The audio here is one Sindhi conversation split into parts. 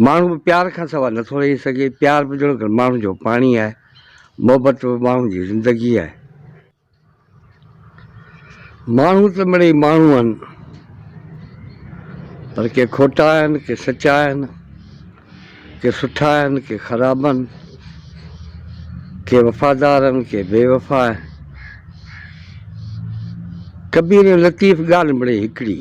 ماڻهو به پيار کان سوا نٿو رهي سگهي، پيار به ڄڻ ته ماڻهن جو پاڻي آهي، محبت به ماڻهن جي زندگي آهي. ماڻهو ته مڙئي ماڻهو آهن، پر ڪي کوٽا آهن، ڪي سچا آهن، ڪي سٺا آهن، ڪي خراب آهن، ڪي وفادار آهن، ڪي بي وفا آهن. ڪبير ۽ لطيف ڳالهه مڙئي هڪڙي.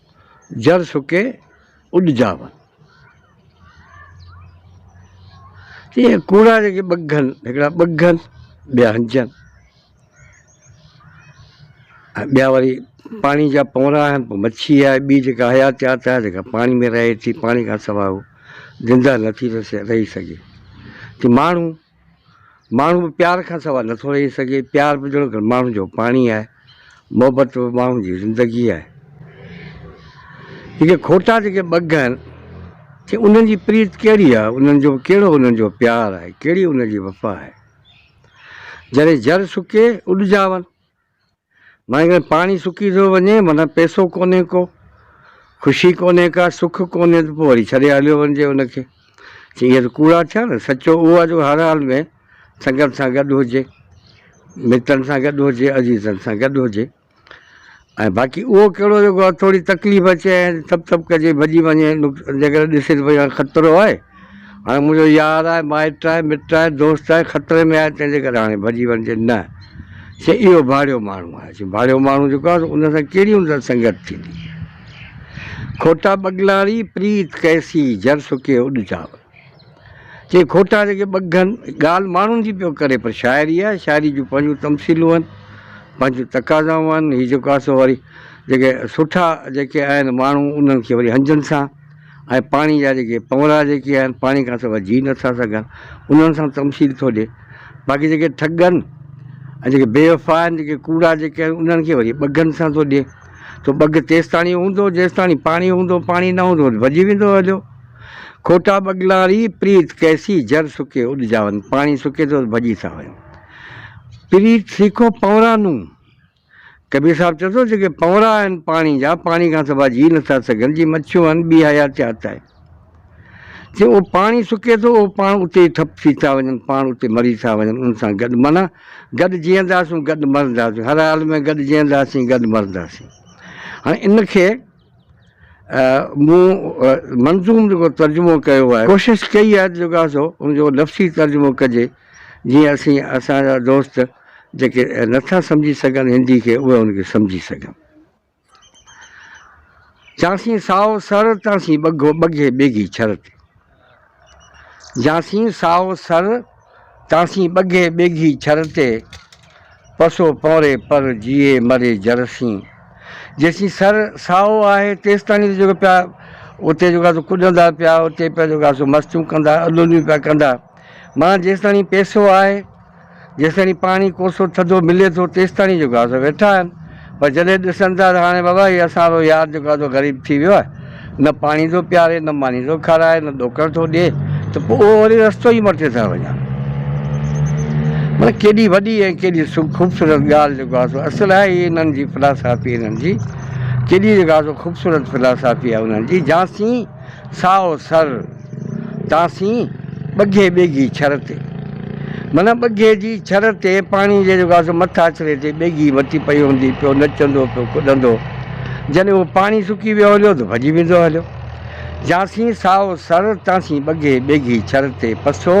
جر سڪي اڏ جاون. چئي ڪوڙا جيڪي ٻگهن، هڪڙا ٻگهن، ٻيا هنجن. ۽ ٻيا وري پاڻي جا پونرا آهن، پوء مڇي آهي ٻي جيڪا حياتيات آهي، جيڪا پاڻي ۾ رهي ٿي، پاڻي کان سواء هو زنده نٿي رهي سگهي. چئي ماڻهو. ماڻهو به پيار کان سوا نه ٿو رهي سگهي، پيار به جهڙو ڪر ماڻهن جو پاڻي آهي، محبت به ماڻهن جي زندگي آهي. جيڪي کوٽا جيڪي ٻگهه آهن، ٿي انهن جي پريت ڪهڙي آهي، انهن جو ڪهڙو انهن جو پيار آهي، ڪهڙي انهن جي وفا آهي. جڏهن جر سڪي، اڏجاون، مگر پاڻي سڪي ٿو وڃي، معنيٰ پئسو ڪونهي ڪو، خوشي ڪونهي ڪا، سک ڪونهي ته پوء وري ڇڏي هليو وڃجي ان کي. چي اهي ته ڪوڙا ٿيا نه، سچو اهو آهي جو هر حال ۾ سنگت سان گڏ هجي، متن سان گڏ هجي، عزيزن سان گڏ هجي ۽ باقي اهو ڪهڙو جيڪو ٿوري تڪليف اچي ۽ ٿپ ٿپ ڪجي ڀڄي وڃي جيڪڏهن ڏسي ته ڀئي هاڻي خطرو آهي، هاڻي منهنجو يار آهي، مائٽ آهي، مٽ آهي، دوست آهي، خطري ۾ آهي، تنهن جي ڪري هاڻي ڀڄي وڃجي نه. چي اهو ڀاڙيو ماڻهو آهي. چي ڀاڙيو ماڻهو جيڪو آهي سو ان سان ڪهڙي هوندي سان سنگت ٿيندي. کوٽا ٻگلاڻي پريت ڪيسي جر سڪي اڏ چاور. چي کوٽا جيڪي ٻگهن، ڳالهه ماڻهن جي پيو ڪري پر شاعري آهي، شاعري جون پنهنجون تمثيلون آهن، پنهنجون تقاضائون آهن، هي جيڪو آهي سو وري جيڪي سٺا جيڪي آهن ماڻهو انهن کي وري هنجن سان. ۽ پاڻي جا جيڪي پونئرا جيڪي آهن پاڻي کان سواء جي نٿا سگهن انهن سان تمثيل ٿو ڏئي باقي جيڪي ٺڳ آهن ۽ جيڪي بي وفا آهن جيڪي ڪوڙا جيڪي آهن انهن کي وري ٻگهن سان ٿو ڏئي سو ٻگهه تيستاڻي هوندو جيستاڻي پاڻي هوندو پاڻي نه هوندو ته ڀڄي ويندو هليو کوٽا ٻگهلاري پريت ڪئسي جر سڪي اڏجاون پاڻي سڪي ٿو ته ڀڄي ٿا وڃن پريت سيکو پونئرا نون ڪبير صاحب چئي ٿو جيڪي پنورا آهن پاڻي جا پاڻي کان سواء جي نٿا سگهن جي مڇيون آهن ٻي حياتيات آهي جي اهو پاڻي سڪي ٿو اهو پاڻ اتي ئي ٺپ ٿي ٿا وڃن پاڻ اتي مري ٿا وڃن ان سان گڏ معنيٰ گڏ جيئنداسون گڏ مرنداسون هر حال ۾ گڏ جيئنداسين گڏ مرنداسين هاڻي ان کي مون منظوم جيڪو ترجمو ڪيو آهي ڪوشش ڪئي آهي ته جيڪو آهي سو ان جو لفظي ترجمو ڪجي جيئن اسين اسان جا دوست جيڪي نٿا سمجهي سگهن هندي کي اهي ان کي سمجهي سگهن. چانسين سائو سر تانسين ٻگهو ٻگهي ٻيگهي ڇر تي. جانسين سائو سر، تانسين ٻگهي ٻيگهي ڇر تي، پسو پونري پر جيئي مري جر سين. جيسين سر سائو آهي تيستائين ته جيڪو پيا اتي جيڪو آهي سو ڪڏندا پيا، اتي پيا جيڪو آهي سو مستيون ڪندا، اڏوليون پيا ڪندا. معنيٰ جيستائين پيسو آهي. جيستائين پاڻي ڪوسو ٿڌو ملي ٿو تيستائين جو گازو ويٺا آهن پر جڏهن ڏسن ٿا ته هاڻي بابا هي اسان رو يار جيڪو آهي سو غريب ٿي ويو آهي نه پاڻي ٿو پياري نه ماني ٿو کارائي نه ڏوڪڙ ٿو ڏي ته پوء اهو وري رستو ئي مٽي ٿا وڃن مطلب ڪيڏي وڏي ۽ ڪيڏي خوبصورت ڳالهه جيڪو آهي سو اصل آهي هي انهن جي فلاسافي انهن جي ڪيڏي جيڪو آهي سو خوبصورت فلاسافي آهي انهن جي جانسين سائو سر تاسين ٻگهي ٻيگهي ڇر تي. معنيٰ ٻگهي جي ڇر تي پاڻي جي جيڪو آهي سو مٿ آچري تي ٻيگهي وتي پئي هوندي پيو نچندو پيو ڪڏندو جڏهن اهو پاڻي سڪي ويو هليو ته ڀڄي ويندو هليو جاسين سائو سر تاسين ٻگهي ٻيگهي ڇر تي پسو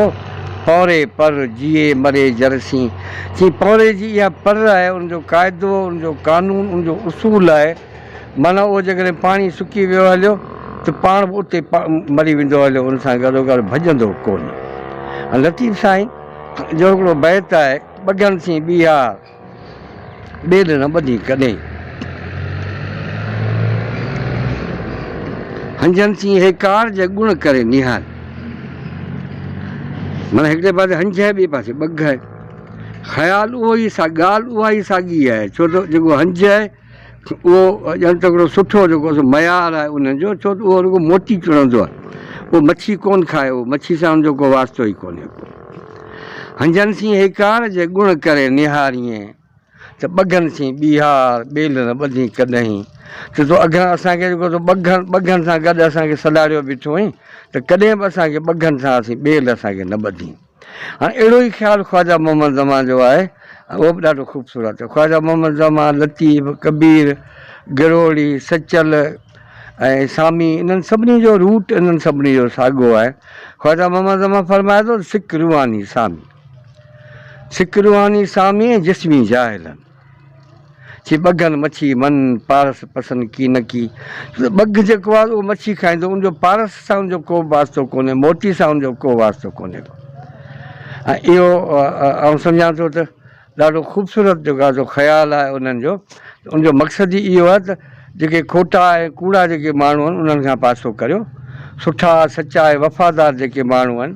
پونري پر جيئي مري جرسين چين پونري جي اها پر آهي ان جو قاعدو ان جو قانون ان جو اصول آهي معنيٰ اهو جيڪڏهن پاڻي سڪي ويو هليو ته پاڻ به اتي مري ويندو هليو ان سان گڏوگڏ ڀڄندو ڪونه ۽ لطيف سائين جو هڪڙو بيت آهي ٻگهن سين ٻيهار ٻيل نه ٻڌين ڪڏهين هنجن سين هيڪار جي گڻ ڪري نهار معنيٰ هڪڙي پاسي هنج آهي ٻئي پاسي ٻگهه آهي خيال اهو ئي سا ڳالهه اها ئي ساڳي آهي ڇو ته جيڪو هنج آهي اهو ڄڻ ته هڪڙو سٺو جيڪو سو معيار آهي انهن جو ڇو ته اهو رڳو موتي چڻندو آهي. اهو مڇي ڪونه کائي، اهو مڇي سان ان جو ڪو واسطو ئي ڪونهي ڪو. هنجهن سين هيڪار جي ڳڻ ڪري نهاريئين ته ٻگهن سين ٻيهار ٻيل نه ٻڌين ڪڏهين ته تو اگهن اسان کي جيڪو سو ٻگهن ٻگهن سان گڏ اسان کي سڏاڙيو بيٺو هئين ته ڪڏهن به اسان کي ٻگهن سان اسين ٻيل اسان کي نه ٻڌين. هاڻ اهڙو ئي خيال خواجه محمد زمان جو آهي ۽ اهو به ڏاڍو خوبصورت. خواجه محمد زمان، لطيف، ڪبير، گروڙي، سچل ۽ سامي انهن سڀني جو روٽ انهن سڀني جو ساڳيو آهي. خواجه محمد زمان فرمائي ٿو ته سڪ روحاني سامي، سڪ روحاني سامي ۽ جسمي جاهلن. چي ٻگهن مڇي من، پارس پسن ڪي نه ڪي. ٻگهه جيڪو آهي اهو مڇي کائيندو، ان جو پارس سان ان جو ڪو به واسطو ڪونهي، موتي سان ان جو ڪو واسطو ڪونهي ڪو. ۽ اهو آئون سمجهان ٿو ته ڏاڍو خوبصورت جيڪو آهي سو خيال آهي انهن جو، ان جو مقصد ئي اهو آهي ته جيڪي کوٽا ۽ ڪوڙا جيڪي ماڻهو آهن انهن کان پاسو ڪريو، سٺا، سچا ۽ وفادار جيڪي ماڻهو آهن،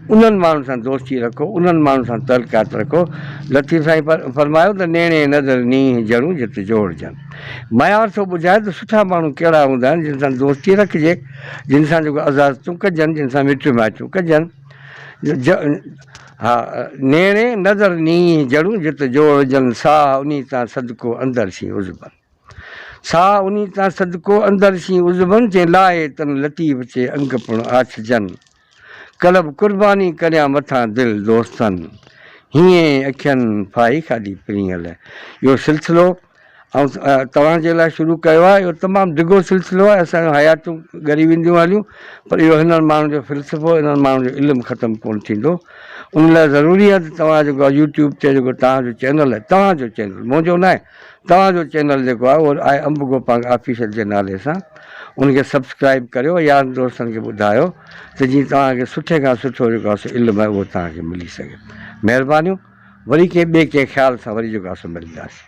انهن ماڻهن سان دوستي رکو، انهن ماڻهن سان تعلقات رکو، لطيف سائين فرمايو ته نيڻي نظر نينهن جهڙون جت جوڙجن. ميار ٿو ٻڌائي ته سٺا ماڻهو ڪهڙا هوندا آهن جن سان دوستي رکجي، جن سان جيڪو عزازتون ڪجن، جن سان مٽيون مائٽيون ڪجن. ها، نيڻي نظر نينهن جهڙون جت جوڙجن، ساهه انهي تان صدقو اندر شين عزبن. ساهه انهي تان صدقو اندر شين عزبن، چين لاهي تن لطيف چي انگ پڻ آڇجن. ڪلب قرباني ڪريان مٿان دل دوستن هينئين اکين ڦاهي کاڌي پرينء لئه اهو سلسلو آئون توهان جي لاء شروع ڪيو آهي اهو تمام ڊگهو سلسلو آهي اسان جون حياتون ڳري وينديون هليون پر اهو هنن ماڻهن جو فلسفو هنن ماڻهن جو علم ختم ڪونه ٿيندو ان لاء ضروري آهي ته توهان جيڪو يوٽيوب تي جيڪو توهان جو چينل آهي توهان جو چينل منهنجو ناهي توهان جو چينل جيڪو آهي اهو آء انب گوپانگ آفيشل جي نالي سان ان کي سبسڪرائيب ڪريو يارن دوستن کي ٻڌايو ته جيئن توهان کي سٺي کان سٺو جيڪو آهي سو علم آهي اهو توهان کي ملي سگهي مهربانيون وري ڪنهن ٻئي ڪنهن خيال سان وري جيڪو آهي سو ملنداسين.